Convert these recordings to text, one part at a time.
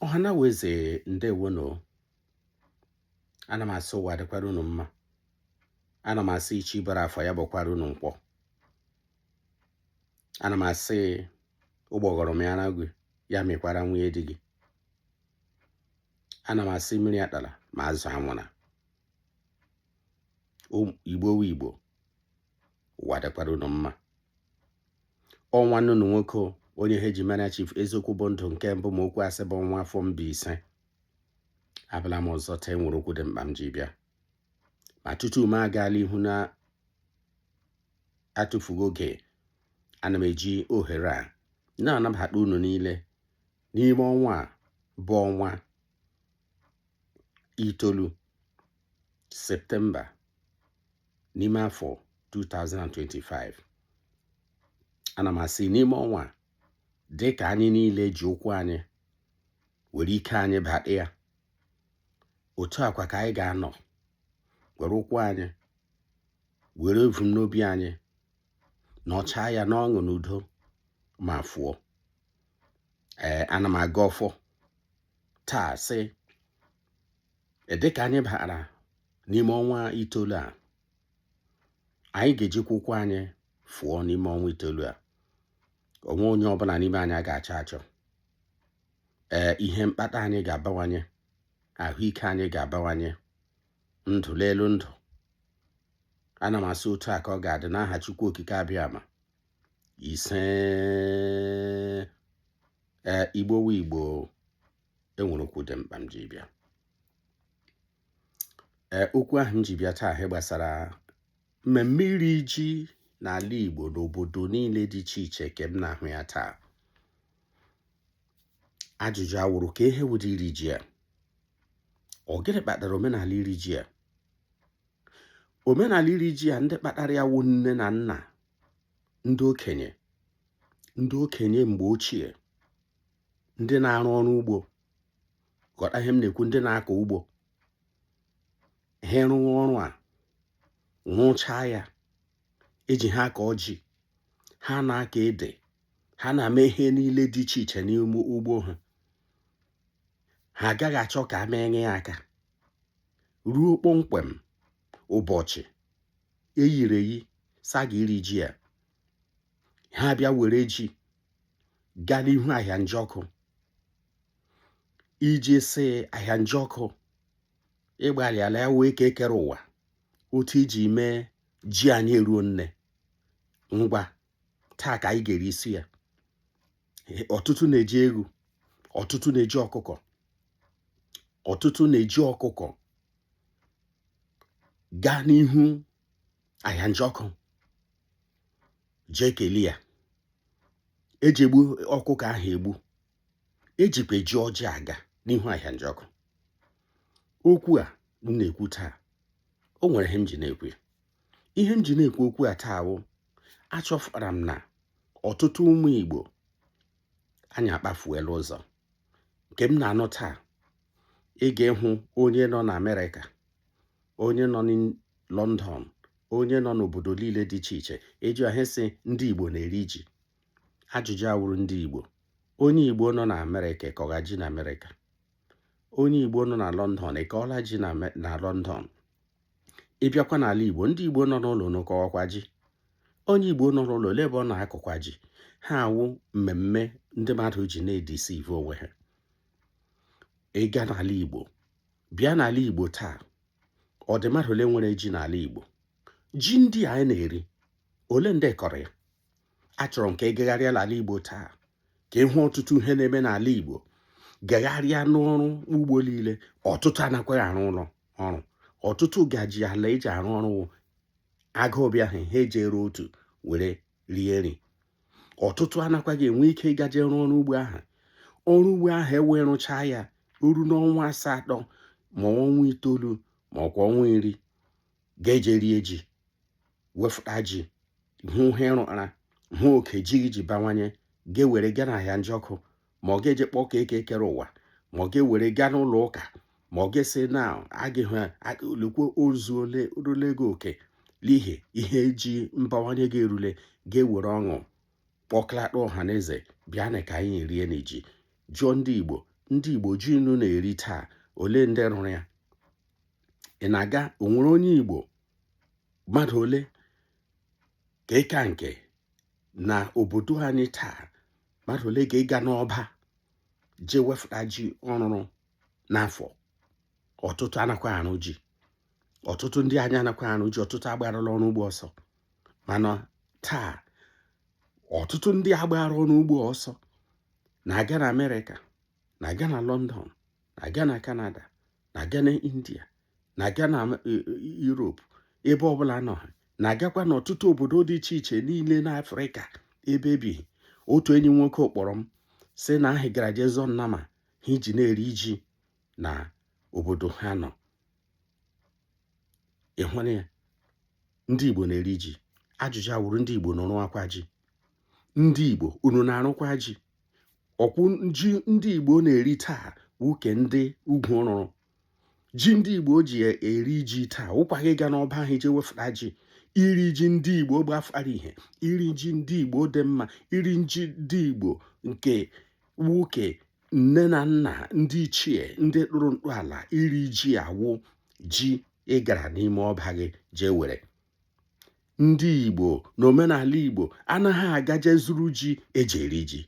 ọhanaeze ndewonu ana m asị ụwa dịkwara unu mma ana m asị ichi bara afọ ya bụkwara unu mkpọ ana m asị ụgbọghọrọ mịara gị ya mịkwara nwunye di gị ana m asị mmiri atala ma azụ anwụna igbo wu igbo ụwa dịkwara unu mma ọ nwanne unu nwoke onye ha ji mara chief eziokwu bụ ndụ nke mbụ ma okwu asị bụ nwa afọ mbaise abịala m ọzọ taa enwere okwu dị mkpa m ji bịa ma tutu m agaala ihu n'atụfughị oge ana m eji ohere a na-anabata unu niile n'ime ọnwa a bụ ọnwa itoolu septemba n'ime afọ 2025 ana m asị n'ime ọnwa a dị ka anyị niile ji ụkwụ anyị were ike anyị bata ya otu a kwa ka anyị ga-anọ were ụkwụ anyị were ebumnobi anyị nọchaa ya n'ọṅụ na udo ma fụọ ee ana m agọ ọfọ taa sị dịka anyị bara n'ime ọnwa itoolu a anyị ga-ejikwa ụkwụ anyị fụọ n'ime ọnwa itoolu a onwe onye ọbụla n'ime anyị a ga-achọ achọ ee ihe mkpata anyị ga-abawanye ahụike anyị ga-abawanye ndụ n'elu ndụ ana m asị otu a ka ọ ga-adị n'aha Chukwu Okike abịama ise ee igbo wu igbo enwere okwu dị mkpa m ji bịa ee okwu ahụ m ji bịa taa ihe gbasara mmemme iri ji n'ala igbo n'obodo niile dị iche iche nke m na-ahụ ya taa ajụjụ awụrụ ka ihe wụdị iri ji a ọ gịnị kpatara omenala iri ji a omenala iri ji a ndị kpatara ya wụ nne na nna ndị okenye ndị okenye mgbe ochie ndị na-arụ ọrụ ugbo ghọta ihe m na-ekwu ndị na-akọ ugbo ha rụwa ọrụ a rụchaa ya eji ha akọ ji ha na-akọ ede ha na-eme ihe niile dị iche iche n'ime ugbo ha ha agaghị achọ ka e menye ya aka ruo kpọmkwem ụbọchị eyiri eyi sị a ga iri ji ya ha bịa were ji gaa n'ihu ahịa njọkụ iji sị ahịa njọkụ ịgbalịala ya wụ eke kere ụwa otu iji mee ji anyị eruo nne ngwa taa ka anyị ga-eri isi ya ọtụtụ na-eji ewu ọtụtụ na-eji ọkụkọ ọtụtụ na-eji ọkụkọ gaa n'ihu ahịa njọkụ jee kelee ya eji egbu ọkụkọ ahụ egbu ejikwa eji ọjị aga n'ihu ahịa njọkụ okwu a m na-ekwu taa o nwere ihe m ji na-ekwu ya ihe m ji na-ekwu okwu a taa wụ achọfụtara m na ọtụtụ ụmụ Igbo anyị akpafuela ụzọ nke m na-anụ taa ị ga-ịhụ onye nọ na Amerịka onye nọ na London onye nọ n'obodo niile dị iche iche eji ahụ sị ndị Igbo na-eri ji ajụjụ awụrụ ndị Igbo onye Igbo nọ na Amerịka akọgha ji na Amerịka onye Igbo nọ na London akọọla ji na London ịbịakwa n'ala Igbo ndị Igbo nọ n'ụlọ na-akọkwa ji onye Igbo nọ n'ụlọ ole ebe ọ na-akọkwa ji ihe a wụ mmemme ndị mmadụ ji na-edeceive onwe ha ịga n'ala Igbo bịa n'ala igbo taa ọ dị mmadụ ole nwere ji n'ala igbo ji ndị anyị na-eri ole ndị kọrọ ya achọrọ m ka ị gagharịa n'ala igbo taa ka ịhụ ọtụtụ ihe na-eme n'ala igbo gagharịa n'ọrụ ugbo niile ọtụtụ anakwaghị arụ ọrụ ọtụtụ ga-eji ala eji arụ ọrụ agụụ bịa ha ha ejiri otu were rie nri ọtụtụ anakwaghị enwe ike ịgaje rụọ ọrụ ugbo ahụ ọrụ ugbo ahụ ewee rụchaa ya o ruo n'ọnwa asatọ ma ọnwa itoolu ma ọkwa ọnwa iri ga-eje rie ji wefụta ji hụ ihe rụara hụ oke ji ji bawanye ga-ewere gaa n'ahịa njọkụ ma ọ ga-eje kpọkuo eke kere ụwa ma ọ ga-ewere gaa n'ụlọ ụka ma ọ ga-esi na agịghị lekwa ozu ole rule gị oke n'ihi ihe eji mbawanye gị erule ga-ewere ọṅụ kpọkọlata ọha na eze bịanụ ka anyị rienụ ji jụọ ndị igbo ndị igbo ji unu na-eri taa ole ndị rụrụ ya ị na-aga onwere onye igbo mmadụ ole ka ịka nke na obodo anyị taa mmadụ ole ga-ịga n'ọba ji wefụta ji ọ rụrụ n'afọ ọtụtụ anakwaghị arụ ji ọtụtụ ndị anyị anakwa arụ ji ọtụtụ agbarala ọrụ ugbo ọsọ mana taa ọtụtụ ndị a gbara ọrụ ugbo ọsọ na-aga na amerịka na-aga na lọndọn na-aga na kanada na-aga na india na-aga na e, e, Europe ebe ọbụla nọ ha na-agakwa n'ọtụtụ obodo dị iche iche niile n'Afrịka ebe ebighị otu enyi nwoke kpọrọ m sị na hị gara jee zụọ nnama ha iji na-eri ji na obodo ha nọ ịhụrụ ya ndị Igbo na-eri ji ajụjụ a wụrụ ndị Igbo na-arụkwa ji ndị Igbo unu na-arụkwa ji ọkwụ ji ndị Igbo na-eri taa wụ nke ndị ugwu rụrụ ji ndị igbo ji eri ji taa wụkwaghị ịga n'ọba ahụ jee wefụta ji iri ji ndị igbo gbafara ihe iri ji ndị igbo dị mma iri ji ndị igbo nke nne na nna ndị ichie ndị tụrụ ntọala iri ji a wụ ji ị gara n'ime ọba gị jee were ndị igbo na omenala igbo anaghị agaje zụrụ ji eji eri ji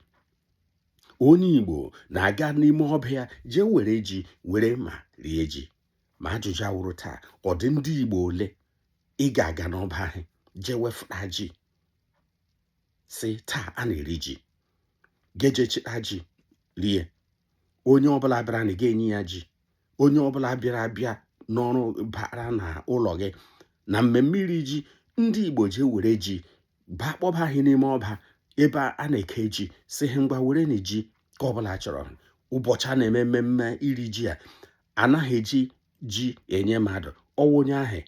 onye igbo na-aga n'ime ọba ya jee were ji were ma rie ji ma ajụjụ a wụrụ taa ọ dị ndị igbo ole ị ga-aga n'ọba ahụ jee wefụta ji sị taa a na-eri ji gị jee chịta ji rie onye ọbụla bịara na ga-enye ya ji onye ọbụla bịara abịa n'ọrụ bara na ụlọ gị na mmemme iri ji ndị igbo ji were ji baa kpọba ha n'ime ọba ebe a na-eke ji sị ha ngwa werenụ ji nke ọbụla chọrọ ụbọchị a na-eme mmemme iri ji a anaghị eji ji enye mmadụ ọ wụ onye ahụ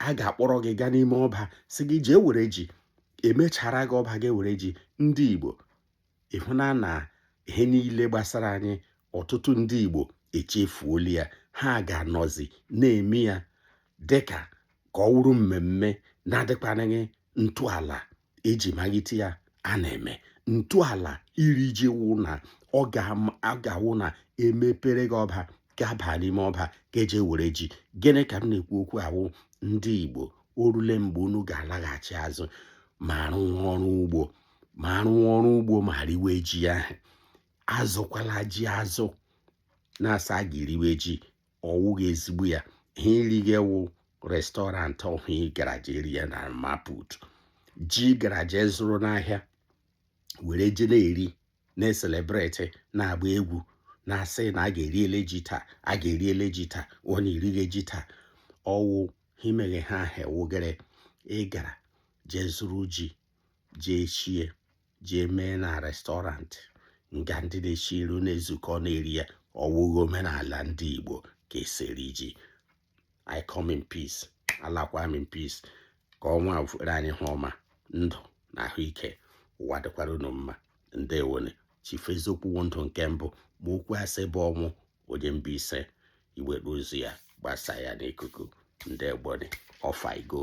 a ga-akpọrọ gị gaa n'ime ọba sị gị jee were ji emechara gị ọba gị were ji ndị igbo ịhụna na ihe niile gbasara anyị ọtụtụ ndị Igbo echefuola ya ha ga-anọzi na-eme ya dịka ka ọ wụrụ mmemme na-adịkwanịghị ntọala eji malite ya a na-eme ntọala iri ji wụ na ọ ga-awụ na emepere gị ọba gị abaa n'ime ọba gị jee were ji gịnị ka m na-ekwu okwu a wụ ndị Igbo o rule mgbe unu ga-alaghachi azụ ma rụwa ọrụ ugbo ma rụwa ọrụ ugbo ma riwe ji ahụ azụkwala ji azụ na-asị a ga-eriwe ji ọwụghị ezigbo ya ihe eri gị wụ restaurant ọhụ ị gara jee rie na mama put ji gara jee zụrụ n'ahịa were je na-eri na-ecelebrate na-agba egwu na-asị na gị eriele ji taa gị eriele ji taa ọ na-erighị ji taa ọwụ ha imeghe ha ahụ ewụgere ị gara jee zụrụ ji jee shie jee mee na restaurant nga ndị na-eshi nri na-ezukọ na-eri ya ọ wụghị omenala ndị Igbo ka e si eri ji I come in peace alakwa m in peace ka ọnwa fere anyị ihu ọma ndụ na ahụike ụwa dịkwara unu mma ndewonu Chief Eziokwu ndụ nke mbụ ma okwu asị bụ ọnwụ onye Mbaise i nwee ozi a gbasaa ya n'ikuku ndewonu off I go